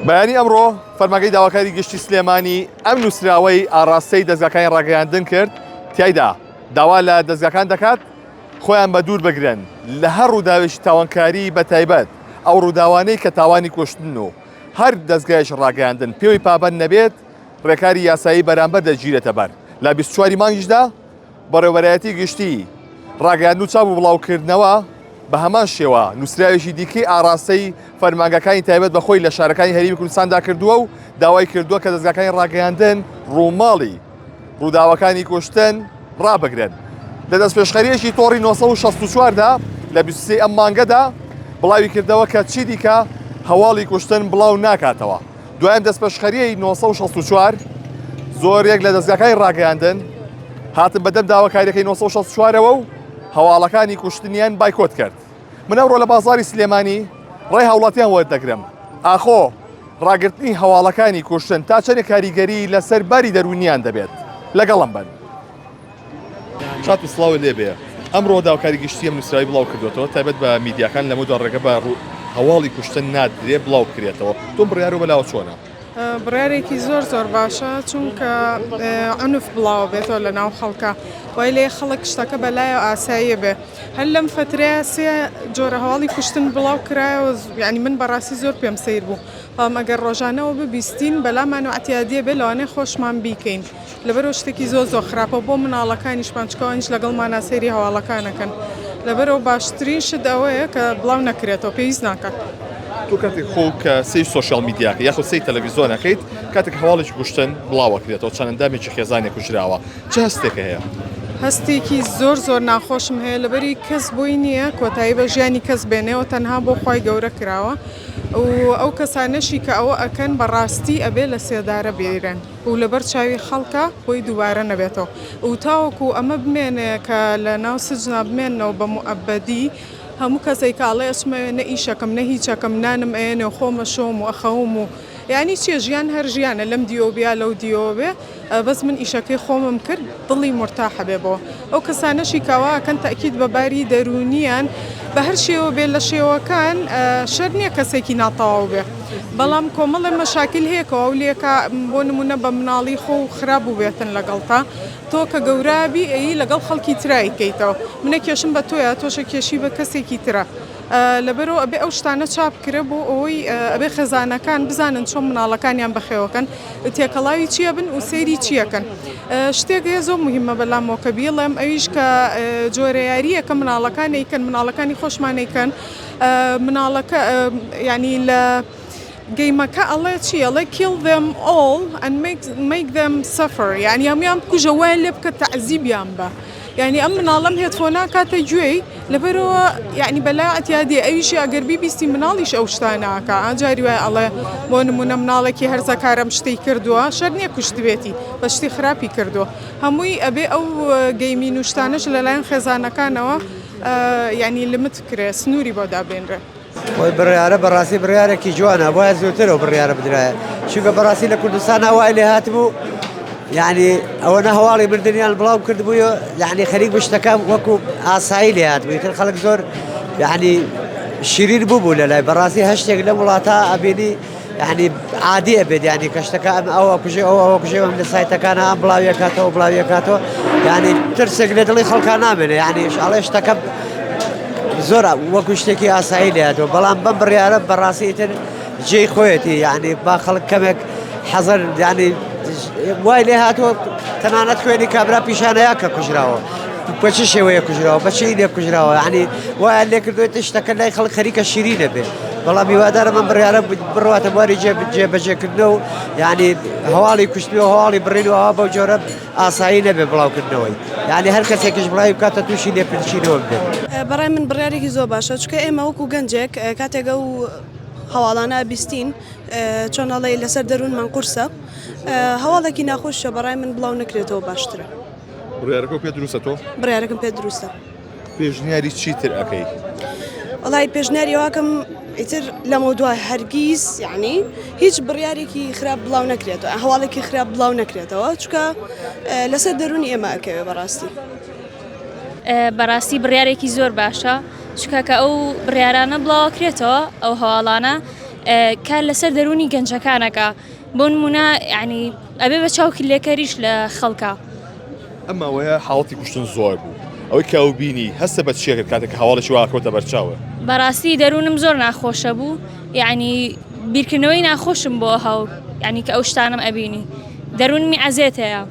بەیانی ئەمڕۆ فەرمانگەی داواکاری گشتی سلێمانی ئەم نووسراوەی ئاراستەی دەزگاکانی ڕاگەیاندن کرد تایدا داوا لە دەزگاکان دەکات خۆیان بە دوور بگرن لە هەر ڕووداوێکی تاوانکاری بە تایبەت ئەو ڕووداوانەی کە تاوانی کوشتن و هەر دەزگایش ڕاگەیاندن پێوەی پابەند نەبێت ڕێکاری یاسایی بەرامبەر دەگیرێتە بەر لە بیست چواری مانگیشدا بەڕێوەبەرایەتی گشتی ڕاگەیاندن و چاپ و بڵاوکردنەوە بە هەمان شێوە نووسراوێکی دیکەی ئاڕاستەی فەرمانگەکانی تایبەت بە خۆی لە شارەکانی هەرێمی کوردستاندا کردووە و داوای کردووە کە دەزگاکانی ڕاگەیاندن ڕووماڵی ڕووداوەکانی کوشتن ڕابگرن لە دەستپێشخەریەکی تۆڕی 1964دا لە 23 ئەم مانگەدا بڵاوی کردەوە کە چی دیکە هەواڵی کوشتن بڵاو ناکاتەوە. دوایین دەستپێشخەریی نۆ سەد و شەست و چوار زۆرێک لە دەزگاکانی ڕاگەیاندن هاتن بەدەم داواکاریەکەی نۆ سەد و شەست و چوارەوە و هەواڵەکانی کوشتنیان بایکۆت کرد من ئەوڕۆ لە بازاری سلێمانی ڕێ هاوڵاتیان وەردەگرم ئاخۆ ڕاگرتنی هەواڵەکانی کوشتن تا چەنێ کاریگەری لەسەر باری دەروونیان دەبێت لەگەڵم بن کاکم سڵاوت لێ بێ ئەمڕۆ داوکاری گشتی ئەم نووسراوی بڵاو کردوێتەوە تایبەت بە میدیاکان لەمە دو ڕێگە بە ڕوو هەواڵی کوشتن نادرێ بڵاو کرێتەوە تۆ بڕیار و بەلاوە چۆنە بڕارێکی زۆر زۆر باشە چونکە ئەنف بڵاو بێتەوە لە ناو خەڵکە وای لێ خەڵک شتەکە بەلایە ئاساییە بێ هەر لەم فترەیە سێ جۆرە هەواڵی کوشتن بڵاو کرایەوە ینی من بەڕاستی زۆر پێم سیر بوو بەڵام ئەگەر ڕۆژانەوە ببیستین بەلامان و عتیادیە بێ لەوانێ خۆشمان بیکەین لەبەرئەوە شتێکی زۆر زۆر خراپە بۆ مناڵەکانیشمان چکە ئەوانیش لەگەڵمانا سەیری هەواڵەکانەکەن لەبەرئەوە باشترین شت ئەوەیە کە بڵاو نەکرێتەوە پێویست ناکات. تۆ کاتێک خۆ کە سەی سۆشیال میدیاکە یاخود سەی تەلەڤیزۆنەکەیت کاتێک هەواڵێکی کوشتن بڵاوەکرێتەوە چەند ئەندامێکی خێزانێک کوژراوە چ هەستێکە هەیە؟ هەستێکی زۆر زۆر ناخۆشم هەیە لەبەری کەس بۆی نییە کۆتایی بە ژیانی کەس بێنێەوە تەنها بۆ خی گەورە کراوە و ئەو کەسانەشی کە ئەوە ئەکەن بەڕاستی ئەبێ لە سێدارە بێرن. و لەبەر چاوی خەڵکا خۆی دووبارە نەبێتەوە و تاوەکو ئەمە بمێنێ کە لە ناو سجنا بمێنەوە بە موئەبەدی هەموو کەسێک کە ئەڵێ ئەچمەوێ نە ئیشەکەم نە هیچەکەم نانم ئەیەنێ و خۆم ئەشۆم و ئەخەوم و یانی چیە ژیان هەر ژیانە لەم دیۆ بیا لەو دیۆ بێ بەس من ئیشەکەی خۆمم کرد دڵی مورتاحە بێ بۆ ئەو کەسانەشی کاوا ئەکەن تەئکید بە باری دەروونییان بە هەر شێوە بێ لە شێوەکان شەر نییە کەسێکی ناتەواو بێ بەڵام کۆمەڵێ مەشاکل هەیە کە ئەو لێکا بۆ نمونە بە مناڵی خۆ و خراپ بووبێتن لەگەڵتا تۆ کە گەورابی ئەیی لەگەڵ خەڵکی ترای کەیتەوە منە کێشم بە تۆیە تۆشە کێشی بە کەسێکی ترە لەبەرئەوە ئەبێ ئەو شتانە چاپکرێ بۆ ئەوەی ئەبێ خێزانەکان بزانن چۆن مناڵەکانیان بەخێوەکەن تێکەڵاوی چیە بن و سەیری چیەکەن شتێک هەیە زۆر مهمە بەلامەوەکە بیڵێم ئەویش کە جۆرە یاریە کە مناڵەکانێکن مناڵەکانی خۆشمانێکن مناڵەکە ینی لە گەیمەکە ئەڵێ چی ئەڵێ Kill them all and make them suffer یانی هەمویان بکوژە وایان لێ بکە تەعزیبیان بە یعنی ئەم مناڵم هێتفۆنا کاتە گوێی لەبەرەوە یعنی بەلا عتیادی ئەویشی ئەگەر بیبیستی مناڵیش ئەو شتاناکە ئاجاری وای ئەڵێ بۆ نمونە مناڵێکی هەرزەکارم شتی کردووە شەر نییە کوشتبێتی بە شتی خراپی کردو هەمووی ئەبێ ئەو گەیمی نوشتانش لەلایەن خێزانەکانەوە یعنی لمت کرێ سنووری بۆ دابێنرێ ئەو بڕیارە بەڕاستی بڕیارێکی جوانە بۆیە زووتر ئەو بڕیارە بدرایە چونکە بەڕاستی لە کوردستان هەوای لێ هاتبوو یعنی ئەوە نە هەواڵی مردنیان بڵاو کردبووە یعنی خەریک بشتەکان وەکو ئاسایی لێ هاتبووی تر خەڵک زۆر یعنی شیرین بووبوو لە لای بەڕاستی هەشتێک لە وڵاتە ئەبینی یانی عادیە بێت ینی کەشتەکە ئەم ئەوە کوژێ ئەو ئەوە کوژێ ئەم لە سایتەکان ئەم بڵاویەکاتەوە بڵاویەکاتەوە ینی ترسێک لە دڵی خەڵکان نامێنێ یانیش ئەڵێ شتەکە زۆر وەکو شتێکی ئاسایی لێتەوە بەڵام بەم بڕیاە بەڕاستی تر جێی خۆیەتی یعنی با خەڵک کەمێک حەزەر ینی وای لێ هاتووە تەنانەت خوێنی کابرا پیشانەیە کە کوژراوە بەچی شێوەیە کوژراوە بەچی لێ کوژراوە ینی وایە لێکردێت شتەکە لای خەڵک خەریکە شیری دەبێت بەڵام هیوادارم ئەم بڕیارە بڕواتە بواری جێبەجێکردنەوە و یعنی هەواڵی کوشتنی و هەواڵی بڕین و ئەوە بەو جۆرە ئاسایی نەبێ بڵاوکردنەوەی یعنی هەر کەسێکیش بڵاوی بکاتە تووشی لێپرچینەوە بێت بەڕای من بڕارێکی زۆر باشە چکە ئێمە وەکو گەنجێک کاتێکە و هەواڵانە بیستین چۆنەڵی لەسەر دەروونمان قورسە هەواڵێکی ناخۆشە بەڕای من بڵاو نکرێتەوە باشترە بڕارەکە پێ دروستە تۆ بڕارەکەم پێ دروستە. پێشنیاری چیتر ئەکەی؟ وەڵای پێشنیاری ئەوەکەم ئیتر لەمە دوا هەرگیز یعنی هیچ بڕیارێکی خراپ بڵاو نەکرێتەوە هەواڵێکی خراپ بڵاو نەکرێتەوە چکە لەسەر دەرونی ئێمە ئەکەوێ بەڕاستی بەڕاستی بڕارێکی زۆر باشە چکە کە ئەو بڕارانە بڵاوکرێتەوە ئەو هەواڵانە کار لەسەر دەرونی گەنجەکانەکە بۆ نموونە یەعنی ئەبێ بە چاوکلێکەریش لە خەڵکا. ئەم ماوەیە حاڵەتی کوشتن زۆر بوو، ئەوەی کە ئەو بینی هەستە بە چییە کرد کاتێک کە هەواڵێکی وا کەوتە بەرچاوە؟ بەڕاستی دەروونم زۆر ناخۆشە بوو، یەعنی بیرکردنەوەی ناخۆشم بۆ هاو یەعنی کە ئەو شتانەم ئەبینی دەروونمی عەزێتەیە.